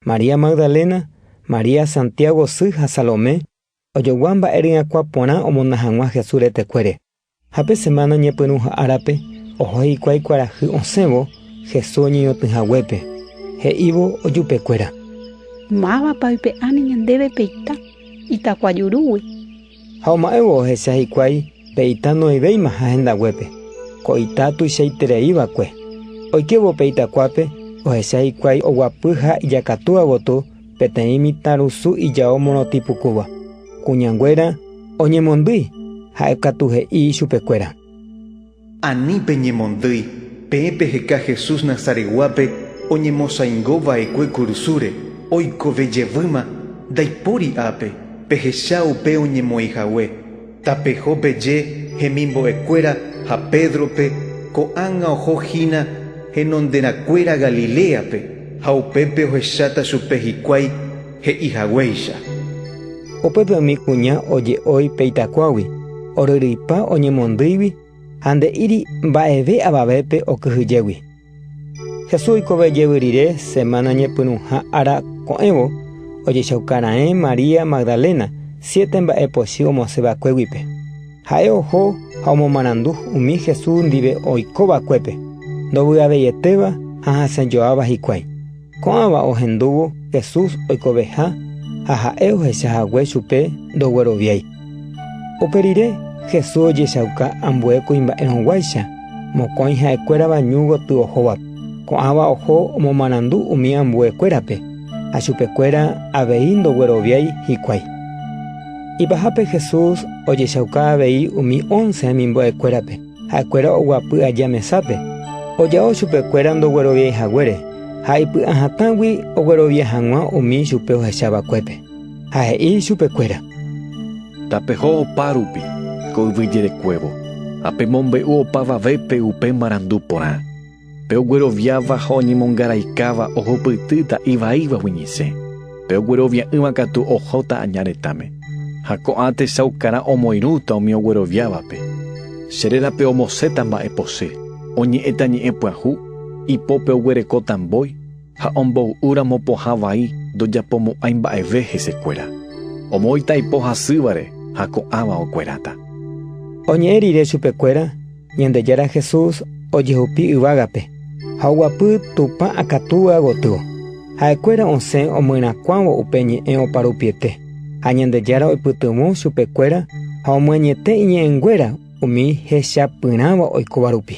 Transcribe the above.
María Magdalena, María, Santiago sy ha Salomé, ojogua mba'e ryakuã porã omona hag̃ua Jesús retekuére. Ha pe semána ñepyrũha árape, oho hikuái kuarahy osẽvo Jesús oñeñotỹ haguépe, he'ívo ojupekuéra. Mávapa oipe'áne ñandéve pe ita, itakuajurúgui? Ha oma'ẽvo ohecha hikuái pe ita noĩvéimaha hendaguépe, ko ita tuichaiterei va'ekue. Oikévo pe itakuápe, ohecha hikuái oguapy ha ijakatúva gotyo peteĩ mitãrusu ijao morotĩ pukúva. Kuñanguéra oñemondýi, ha'e katu he'i ichupekuéra: Ani peñemondýi, peẽ peheka Jesús Nazaretguápe oñemosaingo vaekue kurusúre, oikove jevýma, ndaipóri ápe, pehecha upe oñemoĩ hague. Tapeho peje hemimbo'ekuéra ha Pédrope, Ko'ág̃a oho hína henonderakuéra Galiléape, ha upépe ohecháta chupe hikuái he'i haguéicha. Upépe umi kuña oje'ói pe itakuágui, oryryipa oñemondýigui ha nde'íri mba'eve avavépe okyhyjégui. Jesús oikove jevy rire semána ñepyrũha ára ko'ẽvo, ojechauka raẽ María Magdalena siete mba'e pochy omosẽ vakuéguipe. Ha'e oho ha omomarandu umi Jesús ndive oiko vakuépe, ndovy'aveietéva ha hasẽjoáva hikuái. Ko'ãva ohendúvo Jesús oikoveha ha ha'e ohecha hague chupe ndogueroviái. Upe rire, Jesús ojechauka ambue kuimba'erõguáicha mokõi ha'ekuérava ñu gotyo ohóvape. Ko'ãva oho omomarandu umi ambuekuérape ha chupekuéra avei ndogueroviái hikuái. Ipahápe Jesús ojechauka avei umi ónce hemimbo'ekuérape. Ha'ekuéra oguapy aja mesápe, oja'o chupekuéra ndogueroviái haguére, ha ipy'a hatãgui oguerovia hag̃ua umi ichupe ohecha vakuépe. Ha he'i chupekuéra: “Tapeho opa rupi ko yvy jerekuévo, ha pemombe'u opavavépe upe marandu porã. Pe ogueroviáva ha oñemongaraikáva ohupytýta ivaíva huiñise, pe oguerovia'ỹva katu ohóta aña retãme. Ha ko'ã techaukarã omoirũta umi ogueroviávape. Che rérape omoséta mba'epose, oñe'ẽta ñe'ẽ pyahu, ipópe oguerekóta mbói, ha omboy'úramo pohã vai ndojapomo'ãi mba'eve hesekuéra. Omoĩta ipo hasývare ha ko'ãva okueráta. Oñe'ẽ rire chupekuéra Ñandejára Jesús ojehupi yvágape ha oguapy Tupã akatúva gotyo. Ha'ekuéra osẽ omyerakuãvo upe ñe'ẽ oparupiete, ha Ñandejára oipytyvõ chupekuéra ha omyenyete iñe'ẽnguéra umi hechapyrãva oikóva rupi.